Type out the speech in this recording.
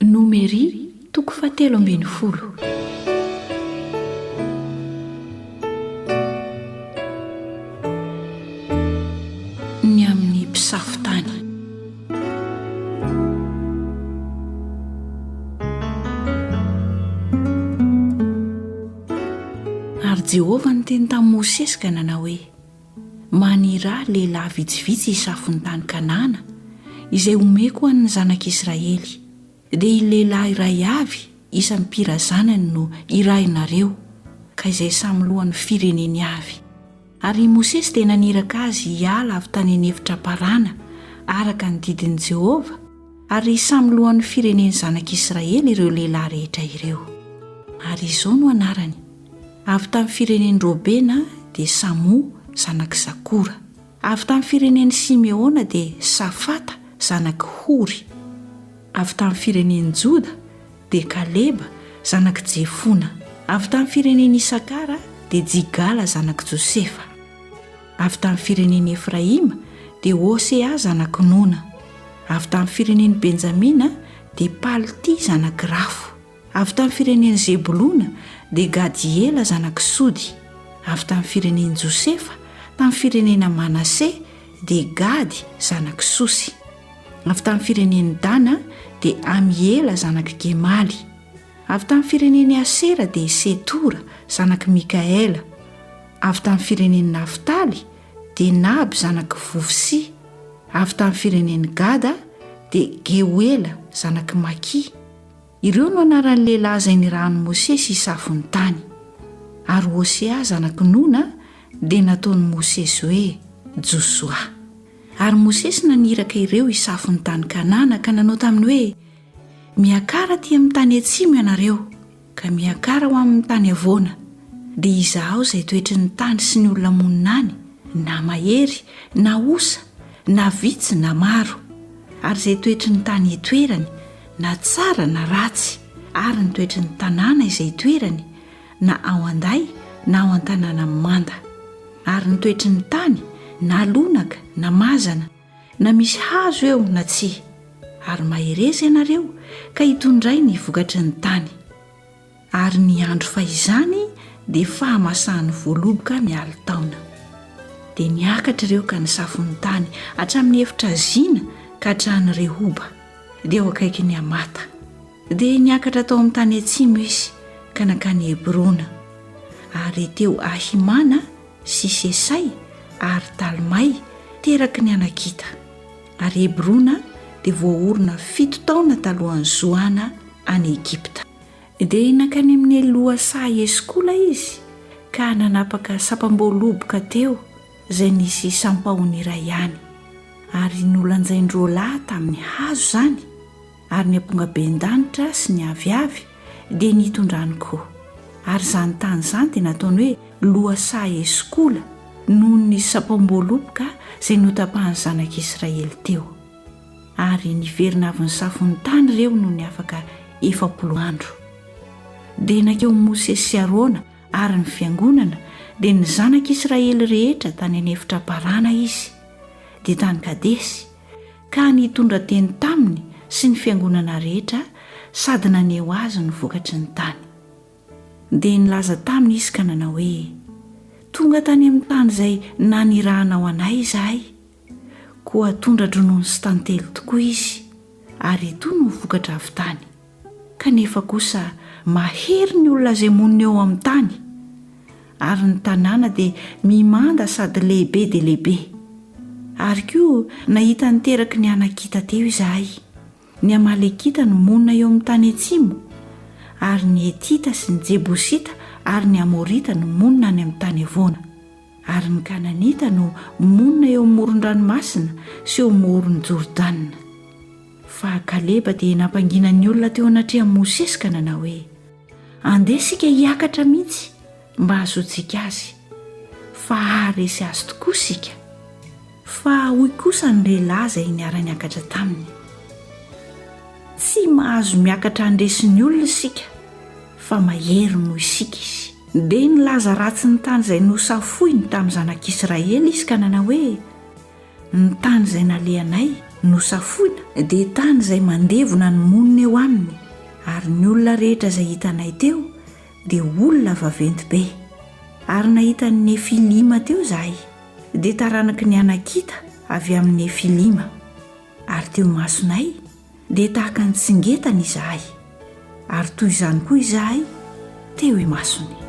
Nomery, toko fahatelo ambin'ny folo. Ny amin'ny mpisafo tany. Ary Jehovah niteny tamin'i Mosesy ka nanao hoe. Manirà lehilahy vitsivitsy hisafo ny tany Kanana, izay homeko ho an'ny zanak'i Israely. Dia i lehilahy iray avy isan'ny mpirazanany no hirahinareo, ka izay samy lohan'ny fireneny avy. Ary i Mosesy dia naniraka azy hiala avy tany an'efitra Parana, araka ny didin'i Jehovah, Ary samy lohan'ny firenen'ny zanak'Israely ireo lehilahy rehetra ireo. Ary izao no anarany, avy tamin'ny firenen'i Robena dia Samoa zanak'i Zakora, avy tamin'ny firenen'i Simeona dia Safata zanak'i Hory, avy tamin'ny firenen'i Joda dia Kaleba zanak'i Jefona, avy tamin'ny firenen'i Isakara dia Jigala zanak'i Josefa. Avy tamin'ny firenen'i Efraima dia Hosea zanak'i Nona. Avy tamin'ny firenen'i Benjamina dia Paltia zanak'i Rafo. Avy tamin'ny firenen'i Zebolona dia Gadiela zanak'i Sody. Avy tamin'ny firenen'i Josefa tamin'ny firenena Manase dia Gady zanak'i Sosy. Avy tamin'ny firenen'i Dana dia Amiela zanak'i Gemaly. Avy tamin'ny firenen'i Asera dia Setora zanak'i Mikaela. avy tamin'ny firenen'i Naftaly dia Nahab zanak'i Vofsi, avy tamin'ny firenen'i Gada dia Geoela zanak'i Maki. Ireo no anaran'ny lehilahy izay nirahan'i Mosesy hisafo ny tany. Ary Hosea zanak'i Nona dia nataon'i Mosesy hoe Josoa. Ary Mosesy naniraka ireo hisafo ny tany Kanana ka nanao taminy hoe, Miakara aty amin'ny tany atsimo ianareo. ka miakara ho amin'ny tany havoana, dia izahao izay toetry ny tany sy ny olona monina any, na mahery na osa, na vitsy na maro, ary izay toetry ny tany itoerany, na tsara na ratsy, ary ny toetry ny tanàna izay itoerany, na ao an-day na ao an-tanàna manda, ary ny toetry ny tany, na lonaka na mazana, na misy hazo eo na tsia, ary mahereza ianareo ka hitondray ny vokatry ny tany. Ary ny andro fahizany dia fahamasahan'ny voaloboka ny alin-taona. Dia niakatra ireo ka nisafo ny tany hatramin'ny efitra Zina ka hatrany Rehoba, dia eo akaikin'i Hamata. Dia niakatra tao amin'ny tany atsimo izy ka nankany Hebrona, ary teo Ahimana sy Sesay ary Talmay teraky ny Anakita, ary Hebrona dia voaorina fito taona talohan'i Zoana any Egypta. Dia nankany amin'i Eloa saha Eskola izy ka nanapaka sampam-boaloboka teo izay nisy sampahony iray ihany, ary nolanjain-droalahy tamin'ny hazo izany, Ary ny ampongaben-danitra sy ny aviavy dia nitondrany koa. Ary izany tany izany dia nataony hoe lohasaha Eskola noho ny sampam-boaloboka izay notapahan'ny zanak'Israely teo. Ary niverina avy nisafo ny tany ireo nony afaka efapolo andro. Dia nankeo Mosesy sy Arona ary ny fiangonana, dia ny zanak'Israely rehetra tany an'efitra Parana izy, dia tany Kadesy, ka nitondra teny taminy sy ny fiangonana rehetra sady naneho azy ny vokatry ny tany. Dia nilaza taminy izy ka nanao hoe, Tonga tany amin'ny tany izay nanirahanao anay izahay, koa tondra-dronono sy tantely tokoa izy, ary itony ny vokatra avy tany. Kanefa kosa mahery ny olona izay monina eo amin'ny tany, ary ny tanàna dia mimanda sady lehibe dia lehibe. Ary koa nahita niteraky ny Anakita teo izahay. Ny Amalekita no monina eo amin'ny tany atsimo, ary ny Hetita sy ny Jebosita ary ny Amorita no monina any amin'ny tany avoana. Ary ny Kananita no monina eo amin'ny moron-dranomasina sy eo Moron'i Jordana. Fa Kaleba dia nampangina ny olona teo anatrehan'i Mosesy ka nanao hoe, Andeha isika hiakatra mihitsy mba hahazoantsika azy, fa haharesy azy tokoa isika. Fa hoy kosa ny lehilahy izay niara-niakatra taminy, Tsy mahazo miakatra handresy ny olona isika, fa mahery noho isika izy. Dia nilaza ratsy ny tany izay nosafoiny tamin'ny zanak'Israely izy ka nanao hoe, Ny tany izay nalehanay nosafoina dia tany izay mandevona ny monina eo aminy, ary ny olona rehetra izay hitanay teo dia olona vaventy be. Ary nahita ny Nefilima teo izahay, dia taranaky ny Anakita avy amin'ny Nefilima. Ary teo imasonay dia tahaka ny tsingetany izahay, ary toy izany koa izahay teo imasony.